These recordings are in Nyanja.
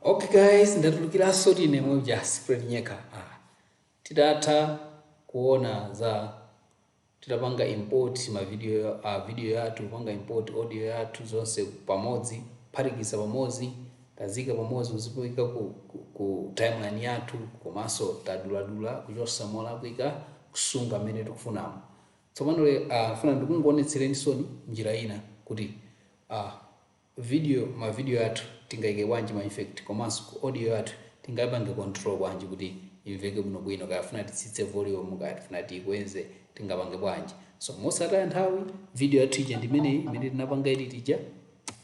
okay guys ndatulukiranso tine Muja Secret Nyeka ah. titatha kuona za titapanga import ma video uh, ah, video yathu kupanga import audio yathu zonse pamodzi kuphatikiza pamodzi taziika pamodzi kuziika ku, ku, ku timeline yathu komanso taduladula kuchotsa molakwika kusunga mmene tikufunamo Tsopano lero a ndifuna ndikuonetsereninso njira ina kuti a video ma video athu tingaike bwanji ma effect komanso ku audio yathu tingaipange control bwanji kuti imveke bwinobwino kaya tifuna titsitse volume kaya tifuna tiikweze tingapange bwanji so mosataya nthawi video yathu ija ndi imeneyi imene tinapanga edit ija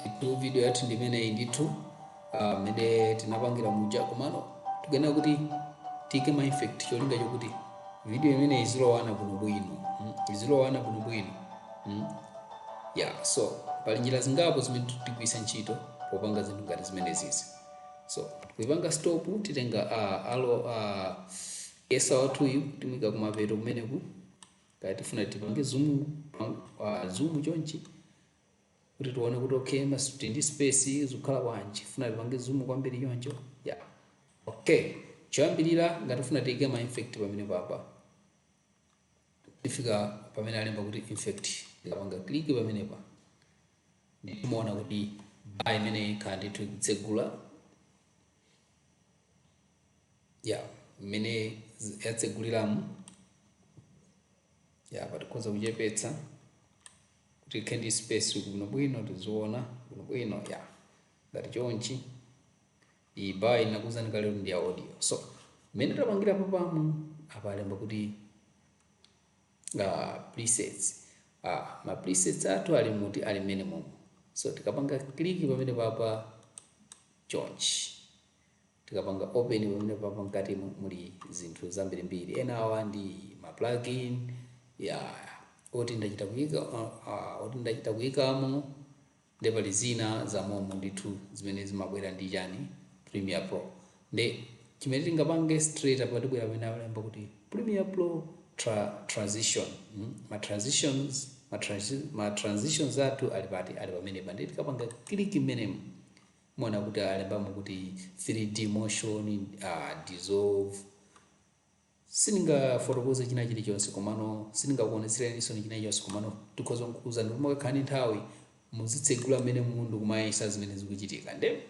ndithu video yathu ndi imeneyi ndithu ah, mmene tinapangira muja komano tikuyenera kuti tiike ma effect cholinga chokuti video imeneyi izilowana bwinobwino mm, izilowana bwinobwino mm. yeah so pali njira zingapo zimene tigwiritsa ntchito popanga zinthu ngati zimenezi so kuipanga stop titenga uh, arrow uh, cursor wathuyu timuika kumapeto kumeneku kaya tifuna tipange zoom uh, zoom chonchi kuti tione kuti okay masuti ndi space zikukhala bwanji funa tipange zoom kwambiri choncho ya okay choyambirira ngati tifuna tiike ma effect pamene papa tifika pamene alemba kuti effect tikapanga click pamene pa timaona kuti bar imene ikhala ndithu ikutsegula ya mmene z- yatseguliramo ya apa tikhoza kuchepetsa kuti ikhale ndi space bwinobwino tiziona bwinobwino ya ngati chonchi iyi bar-yi ndinakuuzani kale kuti ndi ya audio so mmene tapangira pamwamba apalemba kuti Ah, presets. Ah, ma presets athu ali muti ali mmenemu. So tikapanga click pamene papa chonchi. Tikapanga open pamene papa mkati mu- muli zinthu zambirimbiri. Ena awa ndi ma plugin. Yeah. Oti ndachita kuika ah, oti ndachita kuikamo nde pali zina zamomo ndithu zimene zimabwera ndi chani premiere pro nde chimene tingapange straight apa tibwera pamene alemba kuti premiere pro tra transition mm, ma transitions ma, transi, ma transitions athu ali pati ali pamenepa nde tikapanga click mmenemo muona kuti alembamo kuti 3d motion uh, dissolve Sindingafotokoze china chilichonse komano sindingakuonetsereni china chilichonse komano ndikhoza kukuuzani kuti mukakhala ndi nthawi muzitsegula mmenemu ndi kumayesa zimene zikuchitika nde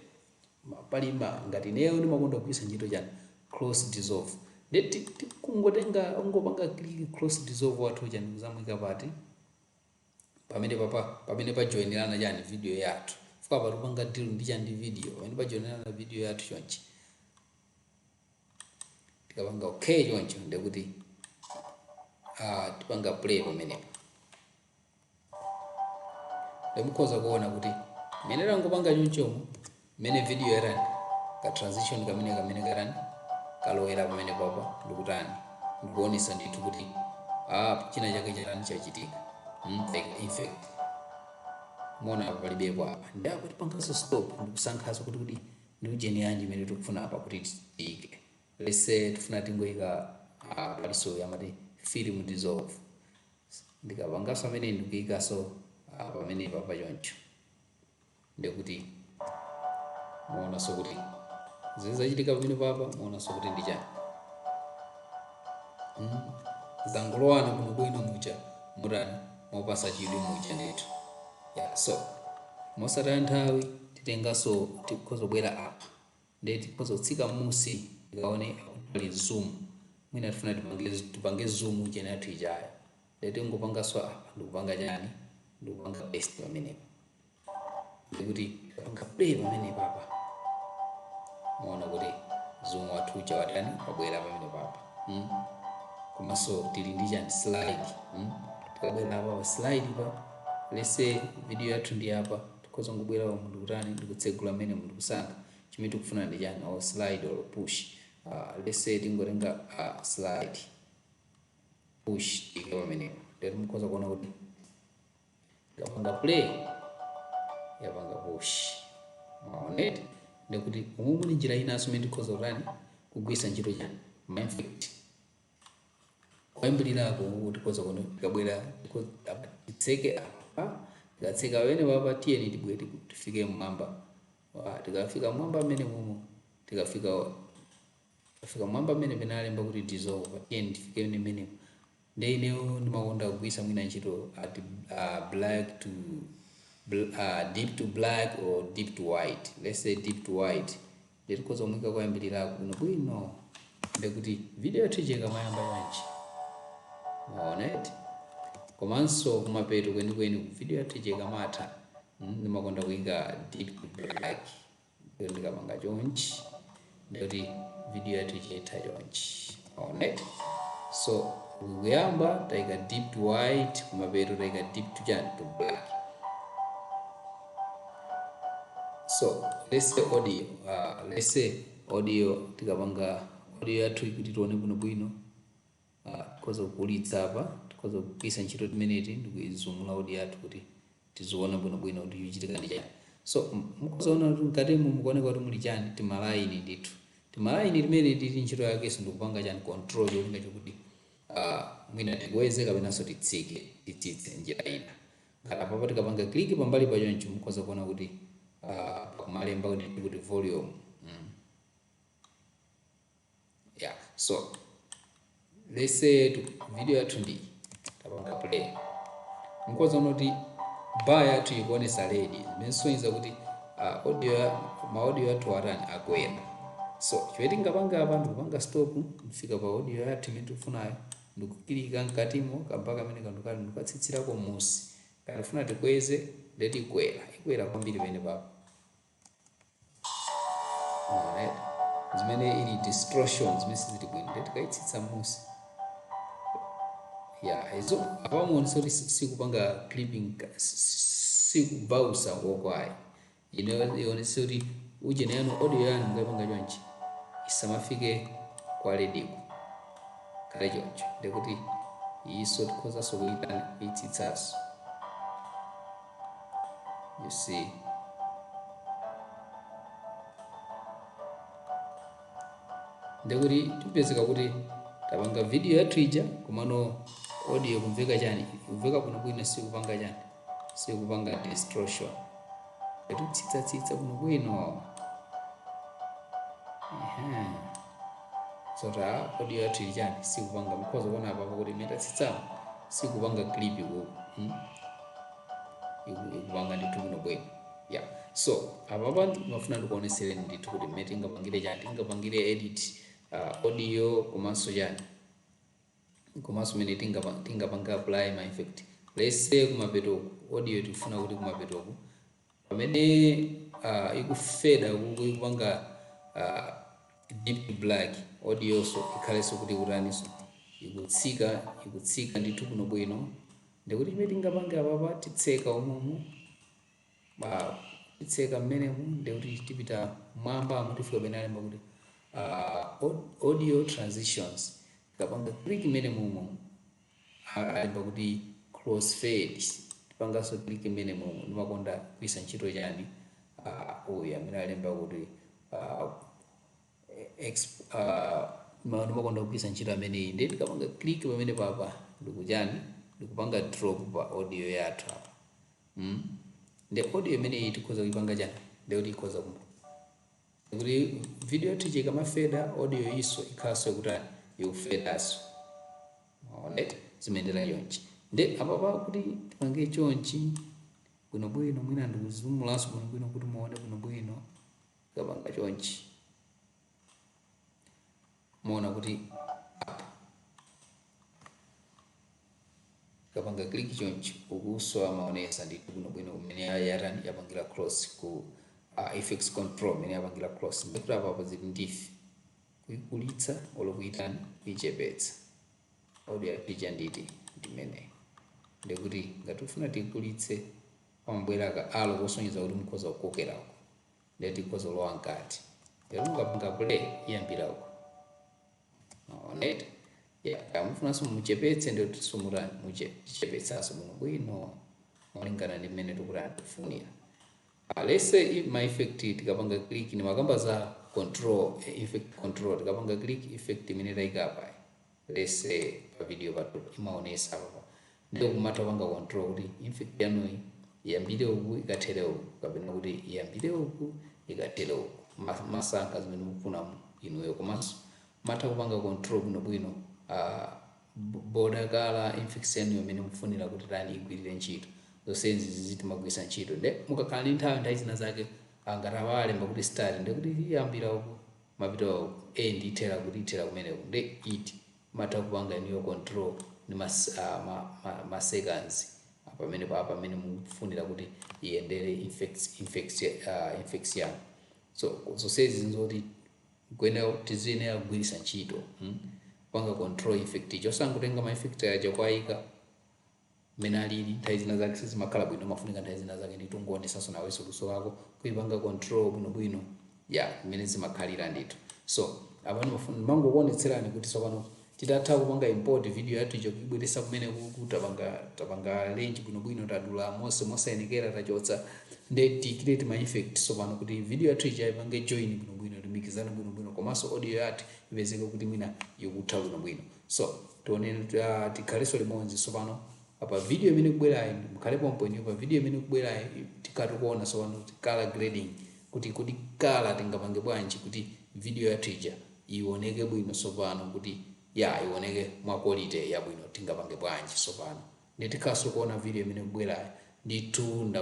ma pali ma ngati ineyo ndimakonda kugwiritsa ntchito chani cross dissolve nde ti tikungotenga kungopanga click cross dissolve wathu uja ndikuzamuika pati pamene papa pamene pajoinirana chani video yathu chifukwa apa tikupanga deal ndi chani ndi video pamene pajoinirana video yathu chonchi tikapanga okay choncho ndekuti ah, tipanga play pamenepo ndemukhoza kuona kuti mmene tangopanga chonchomo mmene video yatani ka transition kamene kamene katani kalowera pamene papa ndikutani ndikuonesa ndithu kuti ah, china chake chatani chachitika Mm, like in fact muona apa palibepo apa ndekuti tipangaso stop ndikusankhaso kuti kuti ndi ujeni yanji imene tikufuna apa kuti tiike let's say tifuna tingoika uh, paliso amati film dissolve ndikapangaso amene ndikuikaso uh, pamene papa choncho ndikuti muonaso kuti zizachitika pamene papa muonaso kuti ndi chani mm. zangolowana kuno bwino muja mutani mopasa chidwi muja ndithu yeah, so mosataya nthawi titenganso tikhoza kubwera apa nde tikhoza kutsika mmusi tikaone akuti pali zoom mwina tifuna tipange tipange zoom ujeni yathu ijayo nde tingopanganso apa ndikupanga chani ndikupanga paste pamenepo ndikuti tikapanga play pamenepo apa muona kuti zoom wathu uja watani wabwera pamenepo apa mm? komanso tili ndi chani slide mm? tikabwera apa pa slide pa let's say video yathu ndi apa Tikhoza kungobwera umu ndi kutani, ndi kutsegula mmenemo ndi kusankha chimene tikufuna ndi chani, or slide or push. Uh, let's say tingotenga uh, slide push tiike pamenepo, ndiyeno mukhoza kuona kuti ikapanga play yapanga push, mwaona eti ndikuti umu muli njira inanso imene tikhoza kutani kugwiritsa ntchito chani, ma effect koyambiriraku uku tikhoza kuona kuti tikabwera tikhoza- apa, titseke apa tikatseka pamene papa tiyeni tibwere tiku- tifike mmwamba Wa, tikafika mmwamba mmene mumo tikafika tikafika mmwamba mmene analemba kuti dissolve tiyeni tifike ni mmene nde ineyo ndimakonda kugwisa mwina ntchito at uh, black to bl- uh, dip to black or dip to white let's say dip to white Ndiye tikhoza kumuika koyambiriraku bwinobwino. Ndiye kuti video yathu ija ikamayamba chonchi, mwaona eti? Komanso kumapeto kwenikweniku video yathu ija ikamatha, mm, ndimakonda kuika dip black. Ndiye ndikapanga chonchi, ndiye kuti video yathu ija itha chonchi. Alright, so tikuyamba taika dip to white kumapeto taika dip to chani to black. So let's say audio, uh, let's say audio tikapanga audio yathu kuti tione bwino bwino uh, tikhoza kukulitsa apa tikhoza kugwiritsa ntchito timeneti ndikuizumula audio yathu kuti tiziona bwinobwino kuti chikuchitika ndi chani so mukhoza kuona kuti mkatimu mukuoneka kuti muli chani timalayini ndithu timalayini timeneti ntchito yakenso ndikupanga chani control cholinga chokuti ah, mwina tikweze kapenanso titsike titsitse njira ina ngati apapa tikapanga kliki pambali pa choncho mukhoza kuona kuti ah, pakumalemba kuti volume mm. yeah so let's say to video yathu ndi tapanga play mukhoza kuona kuti bar yathu ikuonesa ledi zimenesonyeza kuti uh, audio ya- ma audio yathu atani akuyenda so chimene tingapange apa ndikupanga stop kufika pa audio yathu imene tikufunayo ndikukilika mkatimo ka bar kamene kanthu kali ndikukatsitsirako m'munsi ngati tifuna tikweze ndetikwera ikwera kwambiri penepapo Alright. zimene ili distortion zimene sizili bwino ndiye tikayitsitsa m'musi ya izo apa muonesa kuti si- sikupanga clipping ka- si- si- sikubausa kokwayi inu muonese kuti ujeni yanu audio yanu mukayipanga chonchi isamafike kwa lediko kaye choncho ndikuti iyiso tikhozanso kuyitana kuyitsitsanso You see. ndekuti tipezeka kuti tapanga video yathu ija komano audio ikumveka chani ikumveka bwinobwino sikupanga chani sikupanga distortion taitsitsatsitsa bwinobwino Ehe. so audio yathu ili chani sikupanga mkhoza kuona apapo kuti mmene tatsitsapo sikupanga clip kuku hmm? iku- ikupanga ndithu bwino bwino yeah so apapa ndimafuna ndikuonesereni ndithu kuti mmene tingapangire chani tingapangire edit uh, audio komanso chani komanso mmene tingapa- tingapangire apply ma effect let's say kumapetoku audio tikufuna kuti kumapetoku Pamene a ikufeda kuku ikupanga a dip to black audioso ikhaleso kuti ikutaniso ikutsika ikutsika ndithu bwino bwino ndekuti chimene tingapange apapa titseka umomu titseka mmenemu ndekuti tipita m'mwambamu tifika pamene alemba kuti a audio transitions tikapanga click mmenemo umomu alemba kuti crossfade tipanganso click imene mo ndimakonda kugwiritsa ntchito chani uh, uyu amene alemba kuti uh, exp, uh, ndimakonda kugwiritsa ntchito ameneyi ndiye tikapanga click pamenepapa ndikuchani ndikupanga drop pa audio yathu apa mm? ndi audio imeneyi tikhoza kuipanga chani ndiye kuti tikhoza ku kuti video yathu ija ikamafeda audio yoonso ikhalenso kutani ikufedanso alright zimayendera chonchi nde apapa kuti tipange chonchi bwinobwino mwina ndizumulenso bwinobwino kuti muone bwinobwino kapanga chonchi muona kuti apa kapanga click chonchi ikusowa imaonetsa ndithu bwinobwino kumene yatani yapangira cross ku uh, effect control imene yapangira cross ndikuti apapa zili ndi ife kuikulitsa olo kuitani kuichepetsa audio yathu ija ndi imeneyi ndekuti ngati tifuna tikulitse pamabwera ka arrow kosonyeza kuti mukhoza kukokerako ndiye tikhoza kulowa mkati lero mukapanga play iyambira uko onet mukufunanso muchepetse ndiye timatani tichepetsanso bwino bwino molingana ndi mmene tikutani tikufunira onse i- ma effect tikapanga click ndimakamba za control eh, effect control tikapanga click effect imene taikapa let's say pa video pathu imaonetsa apa ndiye mumatha kupanga control kuti effect yanuyi iyambire uku ikathere uku kapena kuti iyambire uku ikathere uku Ma- mumasankha zimene mukufuna mu- inuyo komanso mumatha kupanga control bwinobwino ah, b- border kaya effect yanuyo imene mukufunira kuti tani igwirire ntchito zonsezi zizi timagwiritsa ntchito nde mukakhala ndi nthawi nthawi zina zake ngati palemba kuti start ndekuti iyambira uku mukapita awo end ithera kuti ithera kumeneko nde it mumatha kupanga inuyo control ndi ma ma ma ma seconds apamenepa pamene mukufunira kuti iyendere effects effects uh, effects yanu so zonsezi nzoti kuyenera tiziyenera kugwiritsa ntchito hmm? kupanga control effect osangotenga ma effect aja kuwaika mmene alili nthawi zina zake sizimakhala bwino umafunika nthawi zina zake ndithu ungoonetsanso nawenso luso lako kuipanga control bwinobwino ya mmene zimakhalira ndithu so apa ndimafuna ndimangokuonetserani kuti tsopano titatha kupanga import video yathu ija kuibweretsa kumenekuku tapanga tapanga arrange bwinobwino tadula monse mosayenekera tachotsa nde tiikire tima effect tsopano kuti video yathu ija ipange join bwinobwino ilumikizane bwinobwino komanso audio yathu ipezeke kuti mwina ikutha bwinobwino So tionane tikhalenso limodzi tsopano apa video imene ikubwerayi mukhale pompo inuyo pa video imene kubwerayi tikhala tikuona tsopano kuti color grading kuti kuti color tingapange bwanji kuti video yathu ija ioneke bwino tsopano kuti ya ioneke mwa quality yabwino tingapange bwanji tsopano Nditikhalenso tikuona video imene ikubwerayo ndithu nda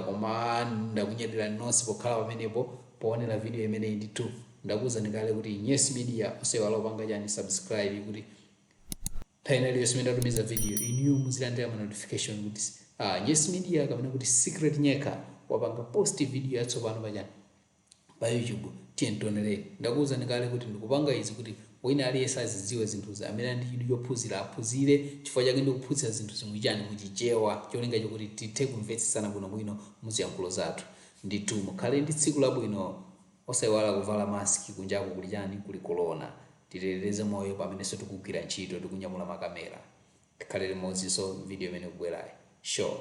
ndakunyadilani nonse pokhala pamenepo poonela video imeneyi ndithu ndakuuzani kale kuti nyesi media osaiwala kupanga chani subscribe kuti nthawi ina iliyonse imene ndatumiza video inuyo muzilandila ma notification kuti ah, nyesi media kapena kuti secret nyeka wapanga post video yatsopano pachani pa YouTube tiyeni tionere. Ndakuuzani kale kuti ndikupanga izi kuti wina aliyense azidziwe zinthuzi amene ali ndi chidwi chophunzira aphunzire chifukwa chake ndikuphunzitsa zinthuzi mu chani? Mu Chichewa cholinga chokuti tithe kumvetsetsana bwinobwino mu ziyankhulo zathu. Ndithu mukhale ndi tsiku labwino osaiwala kuvala mask kunjaku kuli chani? Kuli kolona. Titetedeze moyo pamenenso tikugwira ntchito tikunyamula makamera. tikhale limodzi so video imene ikubwerayi sure